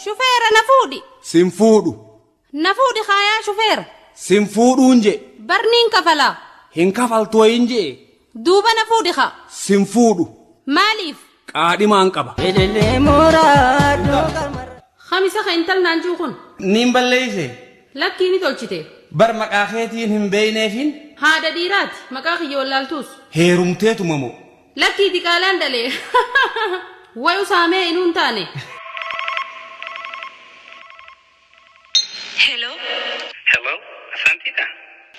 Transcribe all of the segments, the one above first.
Shufeera na fuudhi. Sin fuudhu. Na fuudhi kaa yaa shufeera. Sin fuudhuun je'e. Bar niin kafalaa. Hin kafaltu wayiin je'e. Duuba na fuudhi kaa. Sin fuudhu. Maaliif? Qaadhimaan qaba. Elelee mooraa dooga marra. Khamisa kee intal naan ji'u kun. Niin balleeyse. Lakkii ni tolchite. Bar maqaa keetiin hin beeyneefiin. Haadha dhiiraati. Maqaa kiyya wallaaltuus. Heerumteetuma moo. Lakkii diqaalaan dhalee. Way usaa mee inuu hin taane. Hello. Hello Asaantii dha?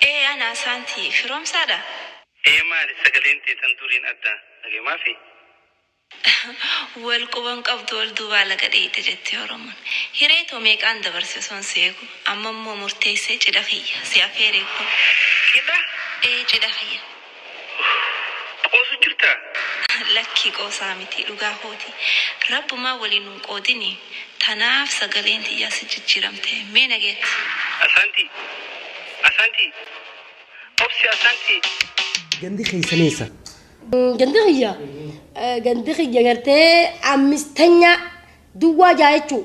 Ee ana Asaantii. Firoomsaa dha? Ee maali sagaleen tee tan duriin adda? Nagemaafi? Wal quba hin qabdu wal duubaa laga dheeyxe jetti Oromoon. Hiree too meeqaan dabarse osoon si eegu. Amma immoo murteessee cidha kiyya. Si afeereekoo. Cidha? Ee cidha kiyya. Qoosu jirtaa? Lakkii qoosaa mitii dhugaa kooti rabbumaa walii nun qoodini tanaaf sagaleen tiyyaa si jijjiramte mee nageetti. Asaantii Asaantii Obse Asaantii. Gandi keessan eessa? Gandi kiyya? Gandi kiyya gartee ammistanyaa duwwaa ja'a jechuu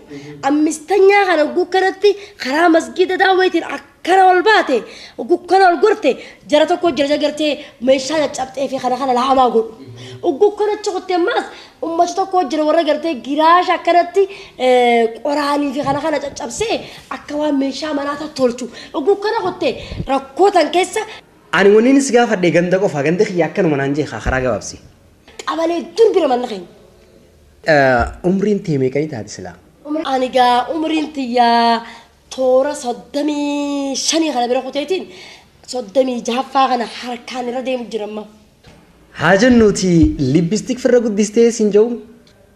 ammistanyaa kana hogguu kanatti karaa masgiida daawweetiin akkana ol baate hogguu kana ol gorte jara tokko jira gartee meeshaa caccabxee fi kana kana laamaa godhu hogguu kana achi kutte ammaas ummata tokko jira warra gartee giraasha akkanatti eh, qoraanii fi kana kana caccabsee akka waan meeshaa manaa tottolchu hogguu kana kutte rakkootan keessa Ani wanniin si gaafadhe ganda qofa ganda kiyya akkanuma naan jee kaa karaa gabaabsi. Qabalee dur bira manna keenya. Umriin tee meeqanii taati silaa? Ani gaa umriin tiyyaa toora soddomii shanii kana bira kuteetiin soddomii jahaffaa kana harkaan irra deemu jira amma. Haa jennuuti libbistik firra guddistee siin ja'u